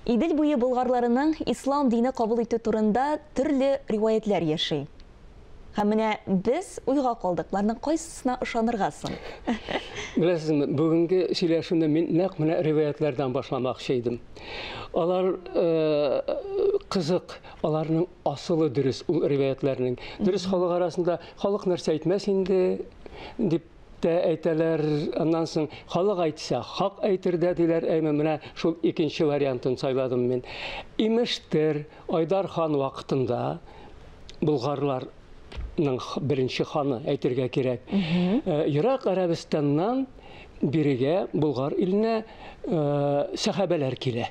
Идел буе болгарларының ислам дине кабул итү турында төрле риваятьләр яши. Һәм менә без уйга калдык, боларның кайсысына ышанырга соң? Беләсезме, бүгенге сөйләшүне мин нәкъ менә риваятьләрдән башламакчы идем. Алар э, кызык, аларның асылы дөрес ул риваятьләрнең. Дөрес халык арасында халык нәрсә әйтмәс инде дип Тә әйтәләр, аннан соң халык әйтсә, хак әйтер дә диләр, әйме, менә шул икенче вариантын сайладым мин. Имештер, Айдар хан вакытында болгарлар ның беренче ханы әйтергә кирәк. Э, Ерак Арабистаннан бирегә Болгар иленә э, сәхабәләр килә.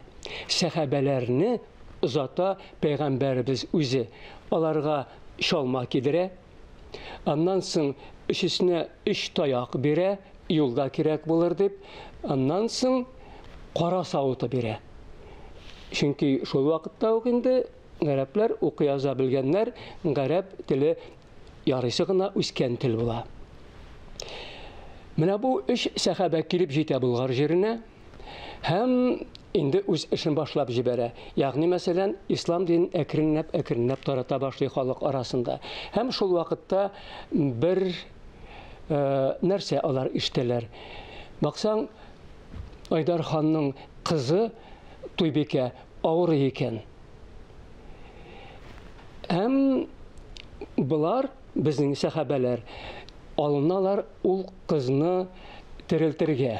Сәхабәләрне озата пәйгамбәребез үзе. Аларга чалма кидерә, Аннан соң өчесенә өч таяк бирә, юлда кирәк булыр дип. Аннан соң кара савыты бирә. Чөнки шул вакытта ук инде гарәпләр укый яза белгәннәр, гарәп теле ярыйсы гына үскән тел була. Менә бу өч сәхабә килеп җитә Болгар җиренә. Һәм инде үз эшен башлап җибәрә. Ягъни, мәсәлән, ислам динен әкренләп-әкренләп тарата башлый халык арасында. Һәм шул вакытта бер э, нәрсә алар ишетәләр. Баксаң, Айдар ханның кызы Туйбикә авырый икән. Һәм болар, безнең сәхабәләр, алыналар ул кызны терелтергә.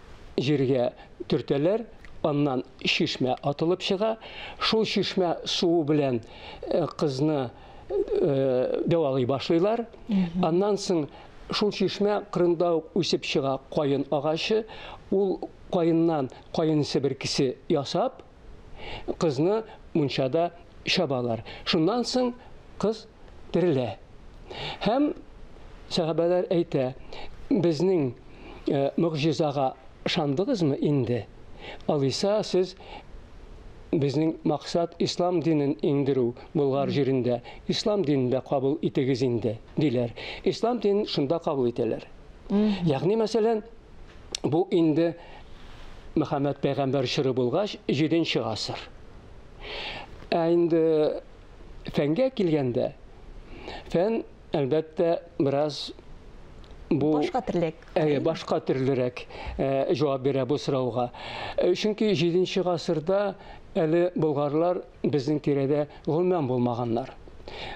җиргә төртәләр, аннан чишмә атылып чыга. Шул чишмә суы белән э, кызны э, дәвалый башлыйлар. Аннан соң шул чишмә кырында ук үсеп чыга каен агачы. Ул каеннан каен себеркесе ясап, кызны мунчада чабалар. Шуннан соң кыз терелә. Һәм сәхабәләр әйтә, безнең э, могҗизага шандыгызмы инде? Алиса, сез безнең максат ислам динен иңдерү Болгар җирендә. Ислам динен дә кабул итегез инде, диләр. Ислам динен шунда кабул итәләр. Ягъни, мәсәлән, Бу инде Мөхәммәд пәйгамбәр чоры булгач, 7 нче гасыр. Ә инде фәнгә килгәндә, фән, әлбәттә, бераз бу башка төрлерәк. Әйе, башка төрлерәк җавап бирә бу сорауга. Чөнки 7 нче гасырда әле болгарлар Безнең тирәдә гомумән булмаганнар.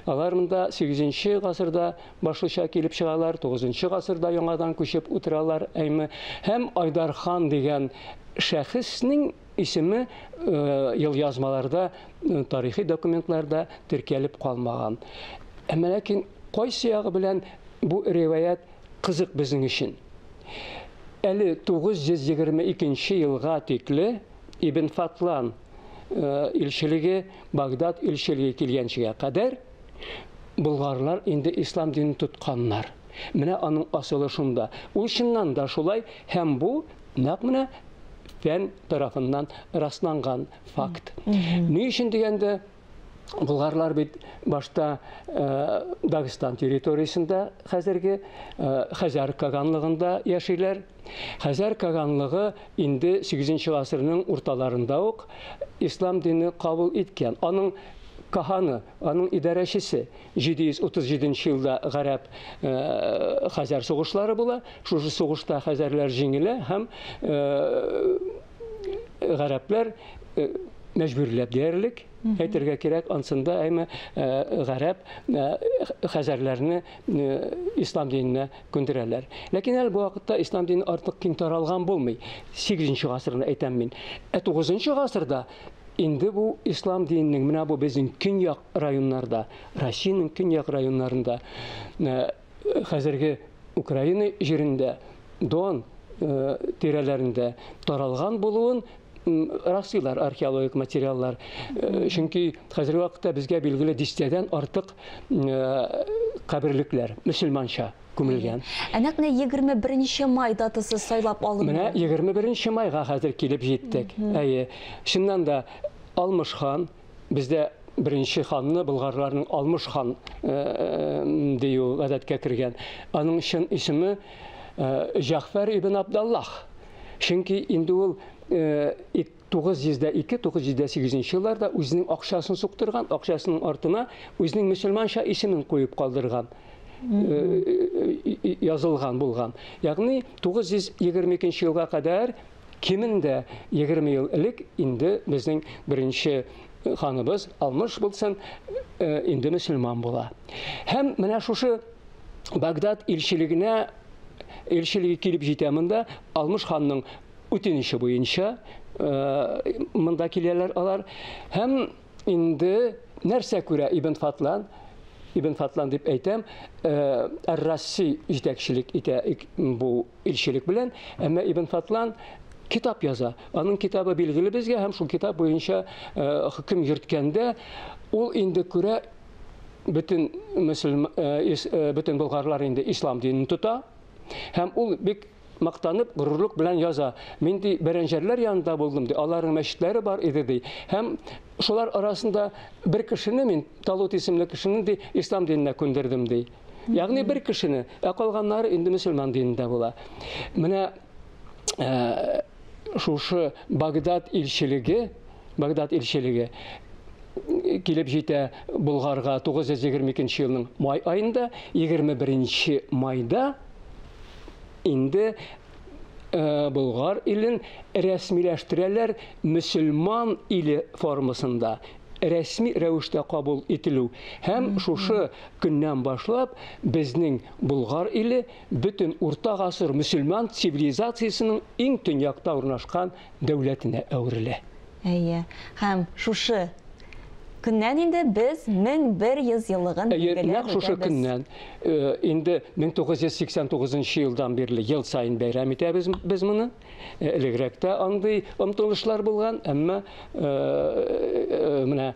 Алар монда сигезенче гасырда башлыча килеп чыгалар, тугызынчы гасырда яңадан күчеп утыралар, әйме, һәм Айдар хан дигән шәхеснең исеме елъязмаларда, тарихи документларда теркәлеп калмаган. Әмма ләкин кайсы ягы белән бу риваять кызык безнең өчен? Әле 922 елга тикле Ибн Фатлан, э, илчелеге, Багдад илчелеге килгәнчегә кадәр болгарлар инде ислам динен тотканнар. Менә аның асылы шунда. Ул чыннан да шулай һәм бу нәкъ менә фән тарафыннан расланган факт. Ни өчен дигәндә, Болгарлар бит башта э, Дагестан территориясендә хәзерге э, Хәзәр каганлыгында яшиләр. Хәзәр каганлыгы инде 8 гасырның урталарында ук ислам дине кабул иткән. Аның каханы, аның идарәчесе 737 елда гарәп э, хәзәр сугышлары була. Шушы сугышта хәзәрләр җиңелә һәм гарәпләр мәҗбүрләп диярлек әйтергә кирәк ансында әйме гарәп хәзәрләрне ислам диненә күндерәләр ләкин әле бу вакытта ислам дине артык киң таралган булмый сигезенче гасырны әйтәм мин ә тугызынчы гасырда инде бу ислам диненең менә бу безнең көньяк районнарда россиянең көньяк районнарында хәзерге Украина җирендә Дон э, тирәләрендә таралган булуын раслыйлар археологик материаллар. Э, чөнки хәзерге вакытта безгә билгеле дистәдән артык э, каберлекләр мөселманча күмелгән. Ә нәкъ менә 21 май датасы сайлап алынды. Менә 21 майга хәзер килеп җиттек. Әйе. Чыннан да Алмыш хан Бездә беренче ханны болгарларның Алмыш хан э, э, дию гадәткә кергән. Аның чын исеме э, Җәгъфәр ибн Абдаллах. Чөнки инде ул 902-908 елларда үзенең акчасын суктырган, акчасының артына үзенең мөселманча исемен куеп калдырган язылган булган. Ягъни 922 елга кадәр кимендә егерме ел элек инде безнең беренче ханыбыз Алмыш булсын инде мөселман була. Һәм менә шушы Багдад илчелегенә илчелеге килеп җитә монда Алмыш ханның үтенече буенча монда киләләр алар һәм инде нәрсә күрә Ибн Фатлан Ибн Фатлан дип әйтәм, Ар-Расси җитәкчелек итә бу Илчелек белән, әмма Ибн Фатлан китап яза. Аның китабы билгеле безгә һәм шул китап буенча э, хөкем йөрткәндә ул инде күрә бөтен мөселман э, э, бөтен болгарлар инде ислам динен тота һәм ул бик мактанып горурлык белән яза мин ди бәрәнҗәрләр янында булдым ди аларның мәчетләре бар иде ди һәм шулар арасында бер кешене мин талут исемле кешене ди ислам диненә күндердем ди Ягъни бер кешене, ә калганнары инде мөселман динендә була. Менә э, шушы Багдад илчелеге, Багдад илчелеге килеп җитә Болгарга 922 елның май айында, 21 майда инде Э, Болгар илен рәсмиләштерәләр мөселман иле формасында рәсми рәвештә кабул ителү һәм шушы көннән башлап безнең Болгар иле бөтен урта гасыр мөселман цивилизациясенең иң төньякта урнашкан дәүләтенә әверелә. Әйе. Һәм шушы көннән инде без 1100 еллыгын билгеләп үтәбез. Әйе, нәкъ шушы көннән, инде 1989 елдан бирле ел саен бәйрәм итәбез без моны. Элегрәк тә андый омтылышлар булган, әмма менә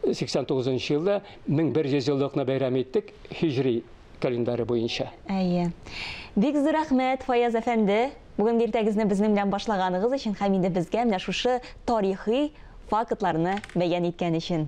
89 елда 1100 еллыкны бәйрәм иттек һиҗри календаре буенча. Әйе. Бик зур рәхмәт, Фаяз әфәнде. Бүген иртәгезне безнең белән башлаганыгыз өчен һәм инде безгә менә шушы тарихи фактларны бәян иткән өчен.